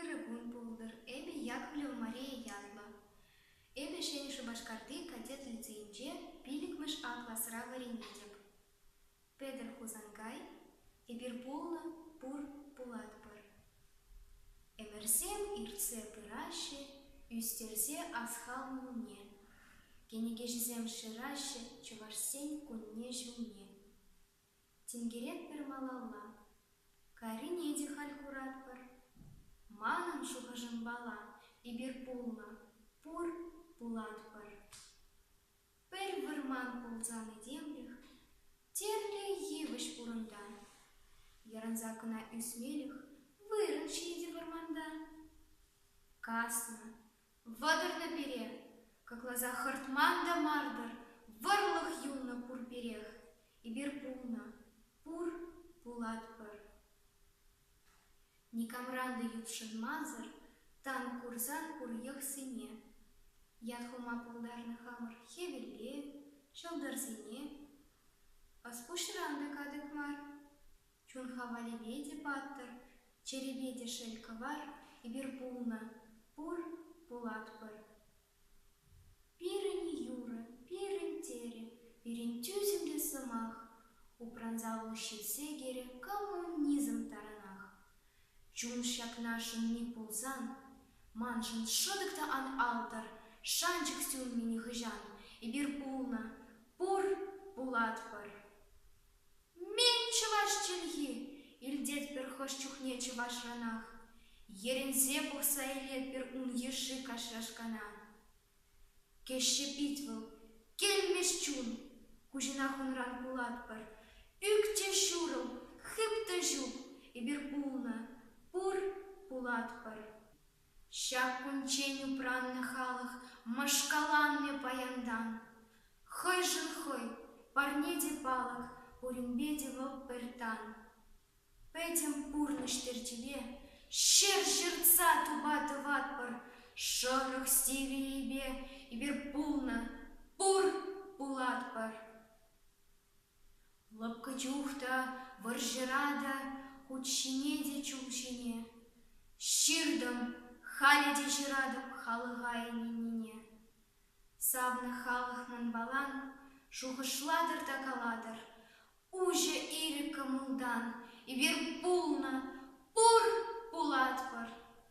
Ырӑ кун пултӑр, эпӗ Яковлев Мария ятлӑ. Эпӗ Ҫӗнӗ Шупашкарти кадет лицейӗнче пиллӗкмӗш А класра вӗренетӗп. Петӗр Хусанкай, эпир пулнӑ, пур, пулатпӑр. Ӗмӗрсем иртсе пыраҫҫӗ, ӳстерсе асхал мулне. Кӗнекеҫӗсем шыраҫҫӗ Чӑвашсен кунне-ҫулне. Тинкерет пӗр малалла. Карине те халь куратпӑр. Манӑн шухӑшӑмпала эпир пулнӑ, пур, пулатпӑр. Пӗр вӑрман пулсан этемлӗх тӗрлӗ йывӑҫ пурӑнта. Йӑрӑнса кӑна ӳсмелӗх вырӑн ҫитӗ вӑрманта. Каснӑ, Вӑтӑрнӑ пире, Кӑкласа хӑртман та мар-тӑр, Вӑрлӑх юлнӑ пур пирех. Эпир пулнӑ, пур, пулатпӑр. Никамран та ютшӑнмансӑр Тан курсан пур йӑхсене. Ят хума пултарнӑ хамӑр хӗвелле, Ҫӑлтӑрсене. Ӑс пуҫран та катӑк мар. Чунха валеме те паттӑр, Чӗрипе те шел кӑвар, Эпир пулнӑ, пур, пулатпӑр. Пирӗн юрӑ, пирӗн терӗ, Пирӗн тӳсӗмлӗ сӑмах, Упранса вӑл ҫил сехерӗ Коммунизм таранах. Чун ҫакна шӑнни пулсан, Маншӑн шӑтӑк та ан алтӑр, Шанчӑк сӳннӗ нихӑҫан, Эпир пулнӑ, пур, пулатпӑр. Мӗн чӑваш чӗлхи? илтетпӗр хӑш чухне чӑвашранах. Йӗрӗнсе пӑхса илетпӗр ун йышши кашшашкана. Кӗҫҫе пит вӑл, кӗлмӗҫ чун. Куҫӑнах унран кулатпӑр. Ӳкчӗ ҫурӑл, хыптӑ ҫук, эпир пулнӑ, пур, пулатпӑр. Ҫак кунччен упраннӑ халӑх мӑшкаланнӑ паянтан. Хӑйшӗн хӑй, парне те палӑк, пуринпе те вӑл пӗр тан. Пӗтӗм пурнӑҫ терчӗпе ҫӗр ҫыртса тупа-тӑватпӑр. Шӑрӑх сивӗнӳпе эпир пулнӑ, пур пулатпӑр. Лӑпкӑ чух та вӑрҫӑра та хут ҫине те чул ҫине Ҫыртӑм халӗ те ҫыратӑп халӑха ӗненнине. Савнӑ халӑх манпалан шухӑшлатӑр та калатӑр Уҫӑ ирӗк кӑмӑлтан эпир пулнӑ, пур, пулатпӑр.